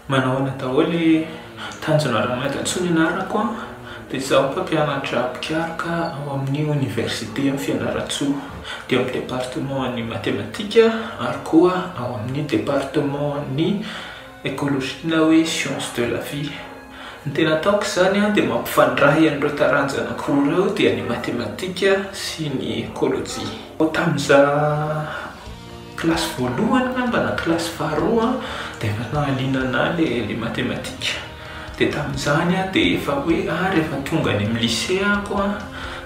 Manahoana daholo i Tanjona Ramadansoa ny anarako a, dia izaho mpampianatra mpikaroka ao amin'ny oniversite Fianarantsoa, dia ao amin'ny departeman'ny matematika ary koa ao amin'ny departeman'ny Ecologie na hoe science de la vie. Ny tena ataoko izany dia mampifandray an'ireo taranja anankiroa ireo dia ny matematika sy ny ekolojia. Tamin'izaho kilasy voalohany angamba na kilasy faharoa dia efa nahaliana anah ilay matematika dia tamin'izany aho dia efa hoe ah rehefa tonga any amin'ny lycée ako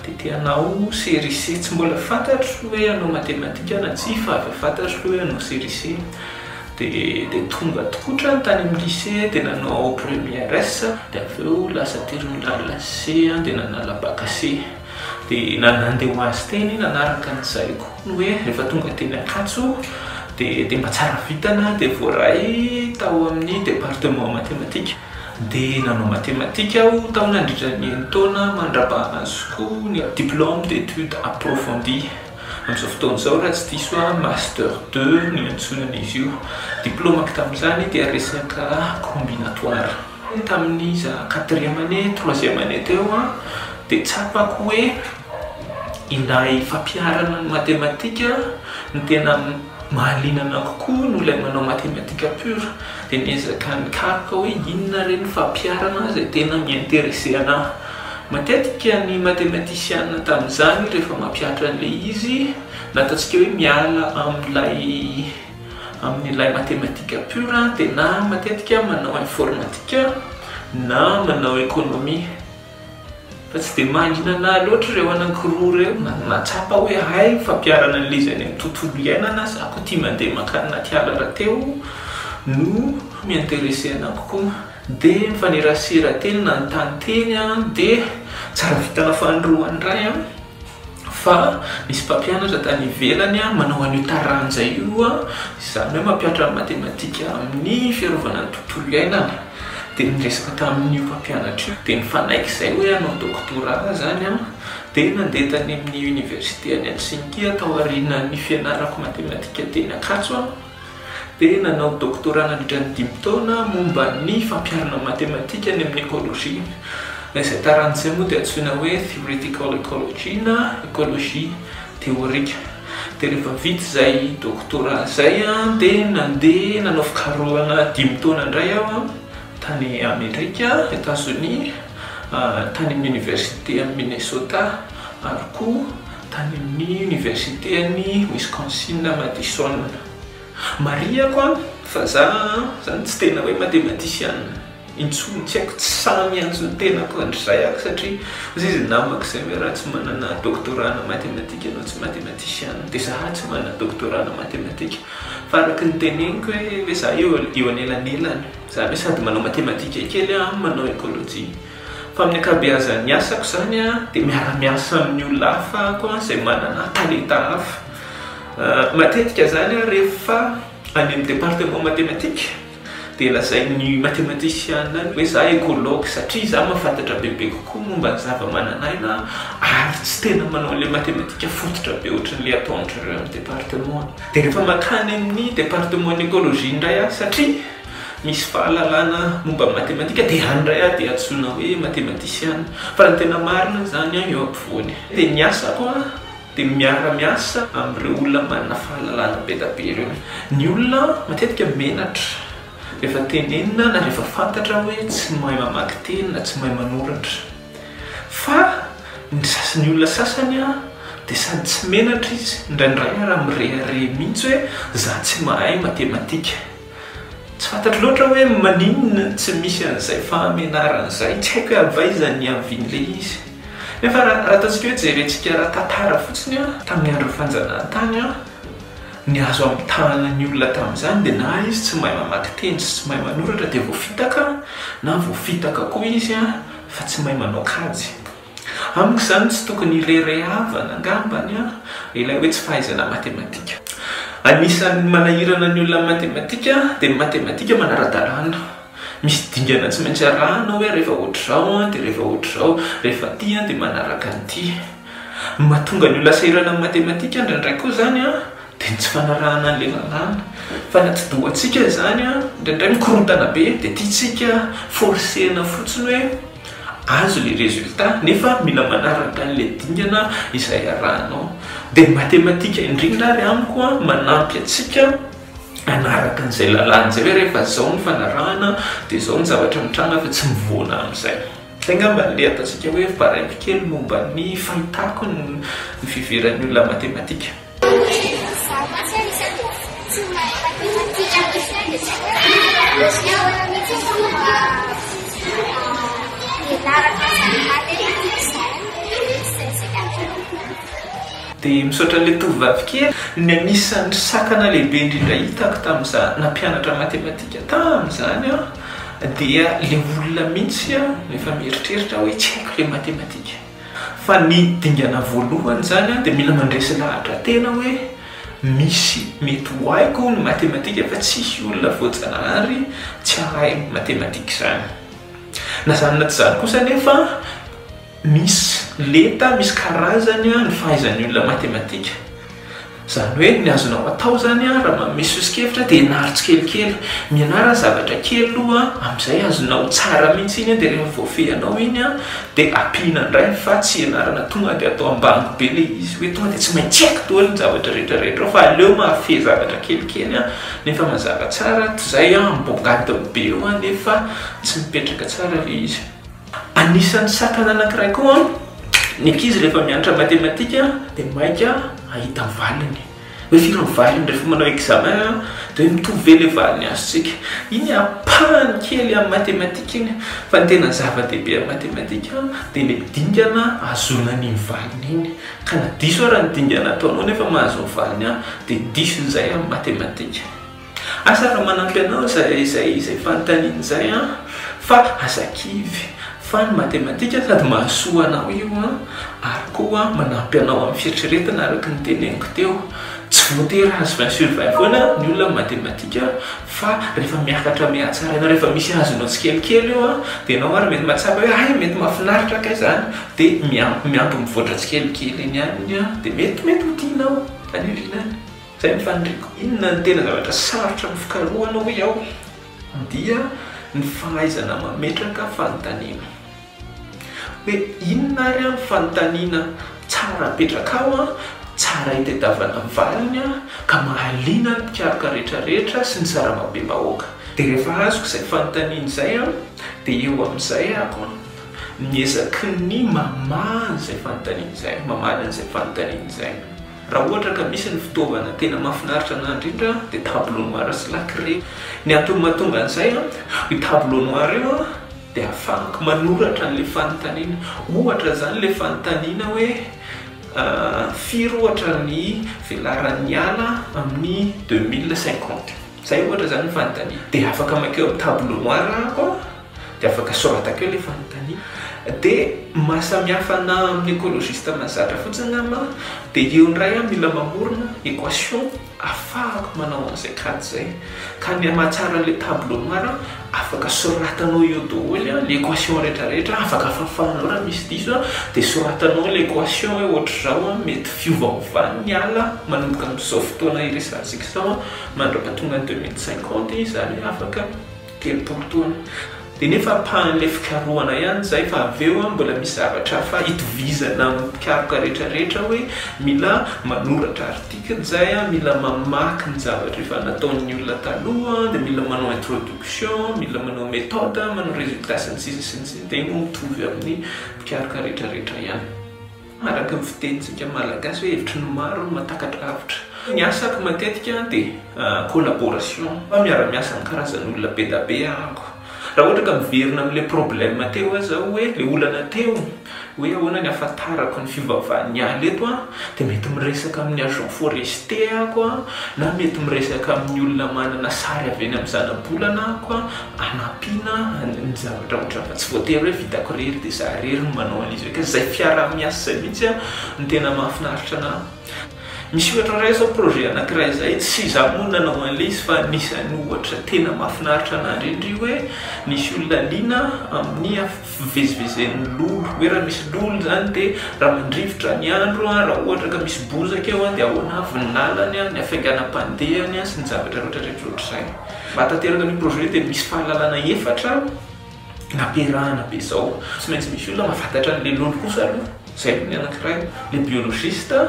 dia te hanao CRIC. Tsy mbola fantatro hoe hanao matematika na tsia fa efa fantatro aloha hoe hanao CRIC. Dia tonga tkotra tany amin'ny lycée dia nanao premières dia avy eo lasa terminal C dia nanala bac C dia nandeha ho azy teny nanaraka ny zaiko ny hoe rehefa tonga teny Ankatso dia dia mba tsara vintana dia voaray tao amin'ny département mathématique dia nanao mathématique aho tao nandritra ny enin-taona mandrapahana azoko ny diplôme d'études approfondies. Amin'izao fotoana izao raha tsy diso aho master deux no iantsonana izy io. Diplômako tamin'izany dia resaka combinatoire. Tamin'iza quatrième année, troisième année teo aho dia tsapako hoe ilay fampiharana ny matematika no tena mahaliana anah kokoa noho ilay manao matematika pure. Dia niezaka nikaroka hoe inona re ny fampiharana izay tena mi-interesser anah. Matetika ny matematisiana tamin'izany rehefa mampihatra an'ilay izy, na ataontsika hoe miala amin'ilay amin'ilay matematika pure dia na matetika manao informatika na manao ekonomia. Fa tsy dia mahalinana ahy loatra ireo anankiroa ireo, na mahatsapa hoe hay ny fampiharana an'ilay izy any amin'ny tontolo iainana, za koa tia mandeha mankany anaty ala rahateo no mi-interesser-na kokoa. Dia mifanerasera teny nanontany teny aho dia tsara vitana fanindroany indray an! fa nisy mpampianatra tany ivelany manao an'io taranja io, izany hoe mampianatra ny matematika amin'ny fiarovana ny tontolo iainana, dia niresaka tamin'io mpampianatra io dia nifanaiky izay hoe hanao doctorat aho izany an! dia nandeha tany amin'ny université any Helsinki aho tao aorianan'ny fianarako matematika teny Ankatso aho, dia nanao doctorat nandritra ny dimy taona momba ny fampiharana ny matematika any amin'ny ekolojia. Izay tarany izay moa dia antsoina hoe theoretical ecology na ekolojia teorika. Dia rehefa vita izay doctorat izay dia nandeha nanao fikarohana dimy taona indray aho tany Amerika, Etazonia, tany amin'ny oniversite any Minnesota ary koa tany amin'ny Oniversiten'i Wisconsin Madison. Marihako an, fa za zany tsy tena hoe matematisiana intsony, tsy haiko, tsy sahy miantso ny tenako handrizay aho, satria hoy izy namako izay hoe raha tsy manana doctorat ana matematika ianao tsy matematisiana, dia za tsy manana doctorat ana matematika, fa araka ny teneniko hoe hoe za eo eo anelanelany, zany hoe sady manao matematika kely aho, manao ecologie. Fa amin'ny ankabeazan'ny asako izany dia miara-miasa amin'ny olona hafa aho izay manana talenta hafa. Matetika izany aho rehefa any amin'ny département mathématique dia lazain'ny mathématician any hoe za écologue satria za mahafantatra bebe kokoa momba ny zava-manan'aina ary tsy tena manao an'ilay mathématique fototra be ohatran'ilay ataon-dry zareo any département any. Dia rehefa mankany amin'ny département ny écologie indray aho satria. Misy fahalalana momba matematika dia any indray aho dia antsoina hoe matematisiana. Fa ny tena marina izany an, eo ampovoany dia ny asako an dia miara miasa amin'ireo olona manana fahalalana be dia be ireo. Ny olona an matetika menatra rehefa tenenina na rehefa fantatra hoe tsy mahay mamaky teny na tsy mahay manoratra. Fa ny sasany ny olona sasany an dia sady tsy menatra izy, indraindray ary mirehareha mihitsy hoe za tsy mahay matematika. Tsy fantatro loatra hoe maninona no tsy misy an'izay fahamenarana izay. Tsy haiko hoe avy aiza ny havian'ilay izy. Nefa raha ataontsika hoe jerentsika ara-tantara fotsiny, tamin'ny andron'ny fanjanahantany, ny azo amitahana ny olona tamin'izany dia na izy tsy mahay mamaky teny sy tsy mahay manoratra dia voafitaka, na voafitaka koa izy fa tsy mahay manao kajy. Amiko izany tsy tokony irerehavana angambany ilay hoe tsy fahaizana matematika. Anisan'ny manahirana ny olona amin'ny matematika dia ny matematika manara-dalàna. Misy dingana tsy maintsy arahana hoe rehefa ohatr'izao dia rehefa ohatr'izao, rehefa ity dia manaraka an'ity. Ny mahatonga ny olona sahirana amin'ny matematika indraindray koa izany dia ny tsy fanarahana an'ilay lalàna. Fanati-dohantsika izany, indraindray mikorontana be dia tiantsika forcer-na fotsiny hoe. Azo le resulta nefa mila manaraka anle dingana izay arahanao. De ny matematika indrindra ary amiko an manampy atsika anaraka anzay lalana zay hoe rehefa zao ny fanarahana de zao ny zavatra mitranga fa tsy mivoana amzay. Zay ngamba le ataontsika hoe varaimpy kely momba ny fahitako ny fiheveran'ny olona matematika. Dia misaotra an'ilay tovovavy kely. Ny anisan'ny sakana lehibe indrindra hitako tamin'izaho nampianatra matematika tamin'izany aho dia ilay olona mihitsy efa mieritreritra hoe tsy haiko ilay matematika. Fa ny dingana voalohany izany an dia mila mandresy lahatra tena hoe misy mety ho haiko ny matematika fa tsisy olona voajanahary tsy hahay matematika izany. Na izany na tsy izany kosa anefa misy lenta, misy karazany ny fahaizan'ny olona matematika. Izany hoe ny azonao atao izany raha manome soso-kevitra dia ianaro tsikelikely. Mianara zavatra kely aloha, amin'izay azonao tsara mihitsy iny dia rehefa voafehinao iny dia ampiana indray fa tsy ianarana tonga dia atao ambany be ilay izy hoe tonga dia tsy maintsy haiko daholo ny zavatra rehetra rehetra ao fa aleo mahafehy zavatra kelikely nefa mazava tsara toy izay miboboka any daholo be eo nefa tsy mipetraka tsara ilay izy. Anisan'ny sakana anankiray koa ny ankizy rehefa mianatra matematika dia maika ahita valiny. Hoe firy ny valiny rehefa manao examen dia hoe mitovy ve ilay valiny azontsika. Iny ampahany kely amin'ny matematika iny fa ny tena zava-dehibe amin'ny matematika dia ilay dingana ahazoana an'iny valiny iny. Ka na diso ary ny dingana ataonao nefa mahazo ny valiny dia diso izay amin'ny matematika. Asa raha manampy anao izay izay izay fanontaniana izay an! Fa aza kivy fa ny matematika sady mahasoa anao io an! Ary koa manampy anao amin'ny fieritreretana araka ny teneniko teo. Tsy voatery azo vingt sur vingt foana ny olona amin'ny matematika fa rehefa miakatra mihatsaraina rehefa misy azonao tsikelikely eo an! Dia ianao ary mety mahatsapa hoe hay mety mahafinaritra kay izany dia miampy miampy mivoatra tsikelikely eny aminy an! Dia mety mety ho tianao any aoriana any. Izay ny faniriako. Inona no tena zavatra sarotra amin'ny fikarohana hoy aho dia ny fahaizana mametraka fanontaniana. Hoe inona ary aho ny fanontaniana tsara apetraka ao, tsara itedavana ny valiny ka mahaliana ny mpikaroka rehetra rehetra sy ny sarambabem-bahoaka. Dia rehefa azoko izay fanontaniana izay aho dia eo amin'izay ako miezaky ny mamaha an'izay fanontaniana izay, mamaly an'izay fanontaniana izay. Raha ohatra ka misy ny fitaovana tena mahafinaritra anahy indrindra dia tableau noir sy lacrier. Ny antony mahatonga an'izay an, io tableau noir io an dia ahafahako manoratra an'ilay fanontaniana. Ohatra izany ilay fanontaniana hoe firy ohatra ny velaran'ny ala amin'ny deux mille cinquante. Izay ohatra izany ny fanontaniana. Dia afaka maika eo amin'ny tableau noir aho an. Dia afaka soratako eo ilay fanontaniana. Dia mahasamihafa anà amin'ny écologiste mahazatra fotsiny aho mah, dia eo indray aho mila mamorona équation ahafahako manao an'izay kajy izay. Ka ny hamahatsara an'ilay tableau noir, afaka soratanao eo daholo ilay équation rehetrarehetra, afaka fafanao raha misy diso, dia soratanao ilay équation hoe hoatr'izao, mety fiovaovan'ny ny ala manomboka amin'izao fotoana iresahantsika izao mandra-pahatonga ny deux mille cinquante izany hoe afaka. telopolo taona dia nefa ampahan'ilay fikarohana ihany izay fa avy eo an mbola misy zavatra hafa itovizana amin'ny mpikaroka rehetra rehetra hoe mila manoratra article izay an, mila mamaky ny zavatra efa nataon'ny olona taloha an, dia mila manao introduction, mila manao méthode, manao résultat sy ny sisa sy ny sisa dia iny mitovy amin'ny mpikaroka rehetra rehetra ihany. Araka ny fitenintsika malagasy hoe hevitry ny maro no mahatakatra avotra. Ny asako matetika dia collaboration, fa miara-miasa amin'ny karazan'olona be da be ahako. Raha ohatra ka miverina amin'ilay problème teo aza aho hoe ilay olana teo hoe ahoana ny ahafantarako ny fivavahan'ny ala eto dia mety miresaka amin'ny agent forestier ahako na mety miresaka amin'ny olona manana sary avy eny amin'ny zanabolana ahako. hanampiana ny zavatra ohatra fa tsy voatery hoe vitako irery dia za irery no manao an'izy ireo ka izay fiaraha-miasa izay mihitsy no tena mahafinaritra anahy. Misy ohatra indray izao projet anankiray izay tsy izaho moa no nanao an'ilay izy fa anisan'ny ohatra tena mahafinaritra anahy indrindra io hoe nisy olona liana amin'ny fivezivezen'ny lolo hoe raha misy lolo izany dia raha mandrivotra ny andro raha ohatra ka misy bozaka eo dia ahoana avy ny lalany, ny hafainganam-pandehany sy ny zavatra rehetra rehetra ohatr'izay. Hanatanteraka an'io projet io dia misy fahalalana efatra nampiarahana be izao. Tsy maintsy misy olona mahafatatra ny lelony kosa aloha, izay aloha ny anankiray. Ilay biologiste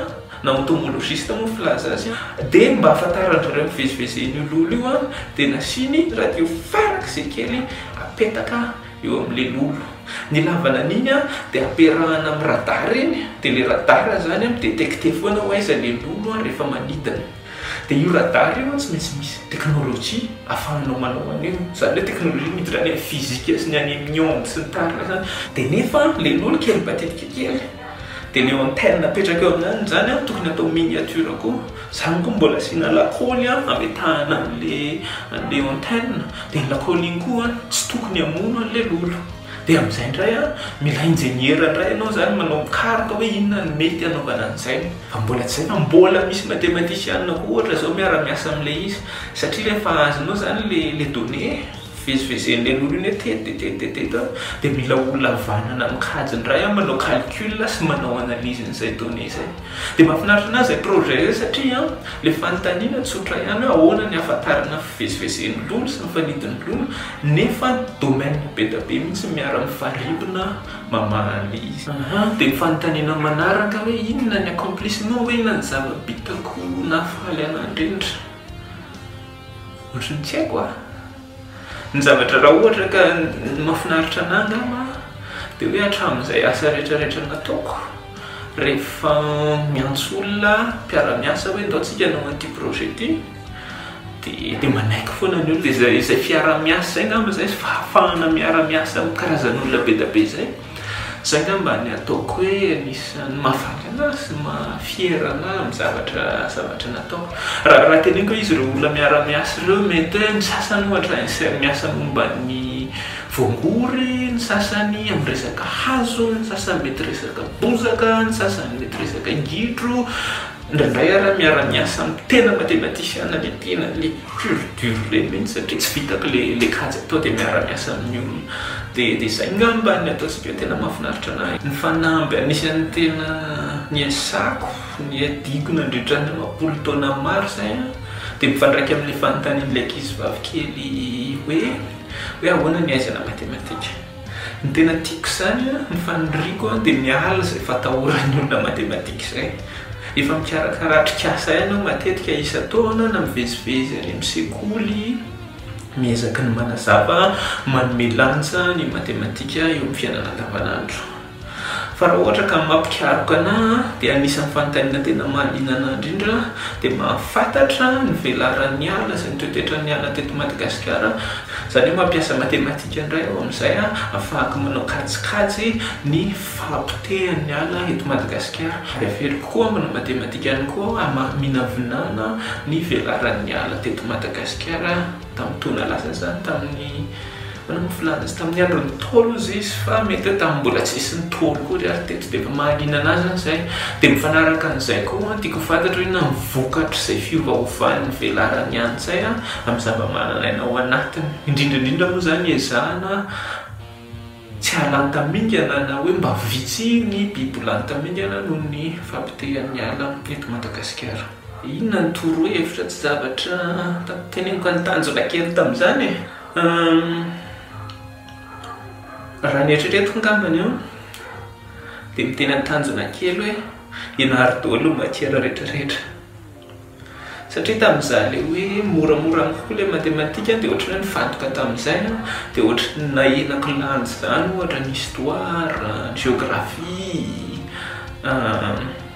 na entomologiste moa ny filaza azy. Dia mba hahafantaran-dry zareo mivezivezy eny io lolo io dia nasiany radio farak'izay kely apetaka eo amin'ilay lolo. Ny ilavana an'iny dia ampiarahana amin'ny radar iny, dia ilay radar izany mi-detecter foana hoe aiza ilay lolo rehefa manidina. Dia io radar io an tsy maintsy misy technologie afahanao manao an'io, zany hoe technologie miditra any amin'ny physique sy ny any amin'ny onde sy ny tariny zany, dia nefa le loha kely matetika kely, dia le antenne apetraka eo amin'any zany an tokony atao miniature koa, zany koa mbola asiana lakôly an ametahana an'le an'le antenne, dia iny lakôly iny koa an tsy tokony hamono an'le lolo, dia amin'izay indray an mila ingeniera indray ianao zany manao mikaroka hoe inona no mety hanaovana an'izay. Fa mbola hajaina, mbola misy matematisianina koa ohatra zao miara miasa amin'ilay izy, satria rehefa azonao zany le le donnée eh, vezivezen'ilay lolo iny hoe teto de teto de teto eh, de mila olona havanana mikajy indray an, manao calcul sy manao analysen'izay donnée izay. De mahafinaritra anahy izay projet izay satria an, le fanontaniana tsotra ihany hoe ahoana ny ahafantarana ny fivezivezen'ny lolo sy ny fanidin'ny lolo, nefa domaine be dia be mihitsy miara mifarimbona, mamaly izy. Aha, dia ny fanontaniana manaraka hoe inona ny accomplissement hoe inona ny zava-bitako nahafaly an'Andrianitra? Ohatry ny tsy haiko ah! Ny zavatra raha ohatra ka ny mahafinaritra anah angamba dia hoe hatramin'izay asa rehetra rehetra nataoko rehefa miantso olona mpiara-miasa hoe ndao tsika hanao an'ity projet ity, Dia manaiky foana ny olona izay izay fiaraha-miasa izay angamba izay fahafahana miara-miasa amin'ny karazan'olona be dia be izay. Izay angamba ny ataoko hoe anisan'ny mahafanina ahy sy maha-fier an'ahy amin'ny zavatra zavatra nataoko. Raha raha teneniko hoe izy ireo olona miara-miasa ireo mety hoe ny sasany ohatra izay miasa momba ny voangory, ny sasany amin'ny resaka hazo, ny sasany mety resaka bozaka, ny sasany mety resaka gidro, Indraindray ary aho miara miasa amin'ny tena matematicien dia tena le pur dur reny mihitsy satria tsy vitako le le kajy atao dia miara miasa amin'ny olona dia dia zay ngamba ny ataontsika hoe tena mahafinaritra anahy. Ny fanamby anisan'ny tena niasako niadiako nandritra ny roapolo taona maro izay an dia mifandraika amin'ilay fanontanian'ilay ankizy vavy kely hoe hoe ahoana ny ahaizana matematika. Ny tena tiako izany an, ny faniriako an, dia miala izay fatahoran'ny olona matematika izay. Efa mikarakara atrikasa ihany aho matetika isan-taona na mivezivezy any amin'ny sekoly, miezaky ny manazava, manome lanja ny matematika eo amin'ny fiainana andavanandro. Fa raha ohatra ka mampikaroka anah an dia anisan'ny fanontaniana tena mahaliana anah indrindra dia mahafantatra ny velaran'ny ala sy ny toetotratran'ny ala teto Madagasikara izany hoe mampiasa matematika indray aho amin'izay hahafahako manao kajikajy ny fahapotehan'ny ala eto Madagasikara ary averiko koa manao matematika ihany koa aho hamaha mihinavinana ny velaran'ny ala teto Madagasikara. Tamin'ny taona lasa izany, tamin'ny manao mofo lanja sy tamin'ny andron'ny Ntaolo hozy izy, fa mety hoe tamin'ny mbola tsy nisy Ntaolo koa ry ary teto dia efa mahaliana an'azy izany izay. Dia mifanaraka an'izay koa an, tiako ho fantatro hoe inona ny vokatr'izay fiovaovan'ny velaran'ny antsay amin'ny zava-mananaina ao anatiny, indrindra indrindra moa izany ezahana, Tsy ahalanta mingana na hoe mba vitsy ny biby lanta mingana noho ny fahapotehan'ny ala eto Madagasikara. Inona no toro hevitra tsy zavatra teneniko an'i Tanjona kely tamin'izany e? Raha ny eritreretiko angambany an, dia miteny an'i Tanjona kely hoe ianaro daholo ny matière rehetra rehetra. Satria tamin'izaho ilay hoe moramora amiko koa ilay matematika dia ohatran'ny hoe nifantoka tamin'izay aho, dia ohatran'ny nahena kilanja izany ohatra ny histoire, ny géographie,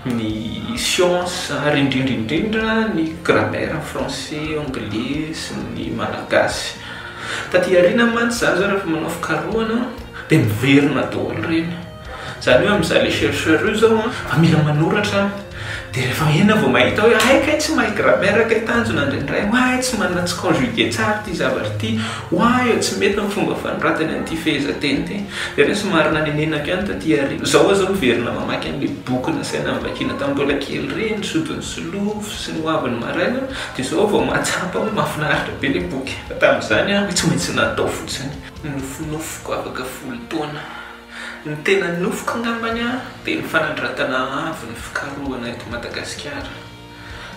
ny science ary indrindra indrindra ny grammaire français, anglais sy ny malagasy. Taty aoriana mantsy izaho izao rehefa manao fikarohana dia miverina daholo ireny. Zany hoe amzay le chercheur io zao an fa mila manoratra an de refa ena vao mahita hoe hay kay tsy mahay grammaire kay tanjona indraindray oay tsy manana tsy conjuguer tsara ty zavatra ty oay o tsy mety ny fomba fanoratany an'ity fehezanteny ty de re somary nanenenako ihany taty aoriana zao aza miverina mamaky an'le boky nasaina novakiana tam mbola kely reny sodin'i solofo sy ny hoavin'ny maraina de zao aho vao mahatsapa hoe mahafinaritra be le boky fa tam'zany an hoe tsy maintsy natao fotsiny nofinofiko afaka folo taona Ny tena nofiko ngambany dia ny fanandratana avo ny fikarohana eto Madagasikara.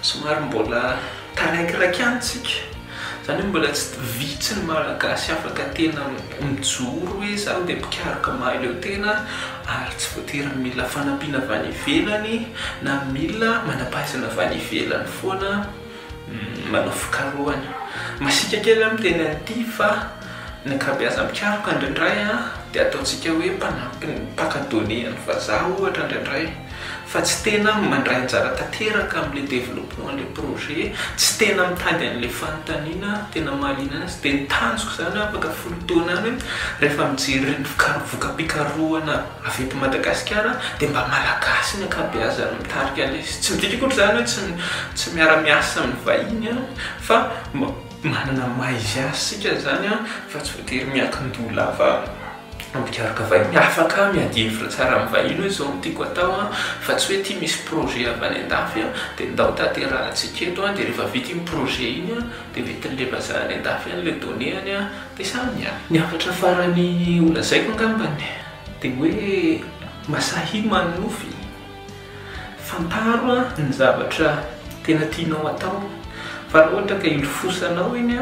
Somary mbola taraikiraiky ihany tsika, izany hoe mbola tsy vitsy ny Malagasy afaka tena mijoro hoe izaho dia mpikaroka mahaleo tena ary tsy voatery mila fanampiana avy any ivelany na mila manam-pahaizana avy any ivelany foana. Manao fikarohana masiaka kely aho miteny an'ity fa ny ankabeazam-pikaroka indraindray dia ataontsika hoe mpanampy ny mpaka données an'ny vazaha ohatra indraindray fa tsy tena mandray anjara tanteraka amin'ilay développement an'ilay projet, tsy tena mitady an'ilay fanontaniana tena mahaliana anazy dia ny tanjoko izany afaka folo taona any hoe rehefa mijery ireny voka-pikarohana. Avy eto Madagasikara dia mba Malagasy ny ankabeazany no mitarika an'ilay izy. Tsy midika akory izany hoe tsy tsy miara miasa amin'ny vahiny an, fa manana ny maha izy azy isika izany an, fa tsy voatery miankin-doha lava mpikaroka vahiny. Afaka miady hevitra tsara amin'ny vahiny hoe izao no tiako atao an, fa tsy hoe ity misy projet avy any an-dafy an, dia ndao tanterahantsika eto an, dia rehefa vita iny projet iny an, dia mety levazana any an-dafy any ilay données any an. Dia izany, ny hafatra farany ho lazaiko angambany dia hoe Masahi Mannofy, fantaro ny zavatra tena tianao atao fa raha ohatra ka ilofosanao iny,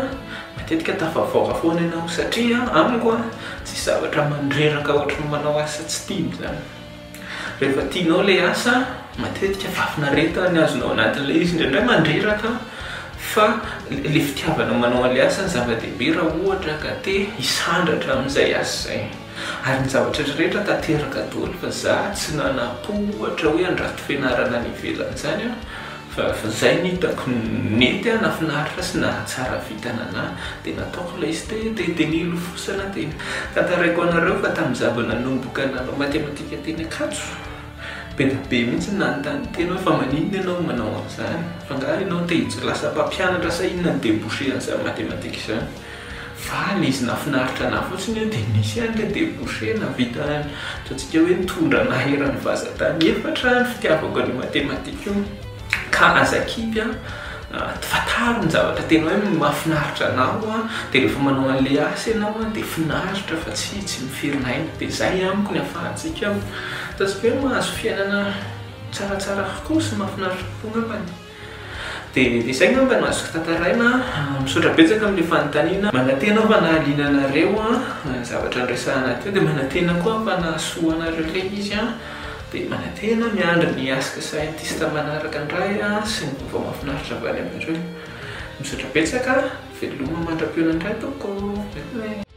matetika tafavoaka foana ianao satria amiko tsisy zavatra mandreraka ohatran'ny manao asa tsy tiana izany. Rehefa tianao ilay asa, matetika fahafinaretana ny azonao anatin'ilay izy, indraindray mandreraka fa ilay fitiavana manao an'ilay asa no zava-dehibe raha ohatra ka te hisandratra amin'izay asa izay. Ary ny zavatra rehetra rehetra tanteraka daholo fa za tsy nanampo ohatra hoe handrato fianarana any ivelany izany aho, Fa zay ny hitako nety ah nafinaritra sy nahatsara vita nanahy de nataoko ilay site de de nilofosana teny tantaraiko anareo fa tam zaba nanomboka nanao matematika teny ankatso be da be mihitsy nanontany tena hoe fa maninona ianao manao anzany fa nga ianao te hijlasa mpampianatra sa inona ny debouche anzany matematika izany Fa ny izy nahafinaritra anah fotsiny hoe dia nisy ihany ilay debouché nahavita ny ataontsika hoe nitondra anah eran'ny vazan-tany efatra ny fitiavako an'io mathématique io ka aza kipy an! fantaro ny zavatra tena hoe mahafinaritra anao an! dia rehefa manao an'ilay asa ianao an! dia finaritra fa tsy tsy miferina aina dia izay amiko ny ahafahantsika ataontsika hoe mahazo fiainana tsaratsara kokoa sy mahafinaritra kokoa angambany. Dia izay ngamba no azoko tantaraina. Misaotra betsaka amin'ilay fanontaniana. Manantena aho fa nahaliana anareo ny zavatra niresahana teo, dia manantena koa aho fa nahasoa anareo ilay izy. Dia manantena miandry ny Ask Scientist manaraka indray sy ny vaovao mahafinaritra avy any aminareo. Misaotra betsaka, veloma mandra-pihaonana indray tompoko.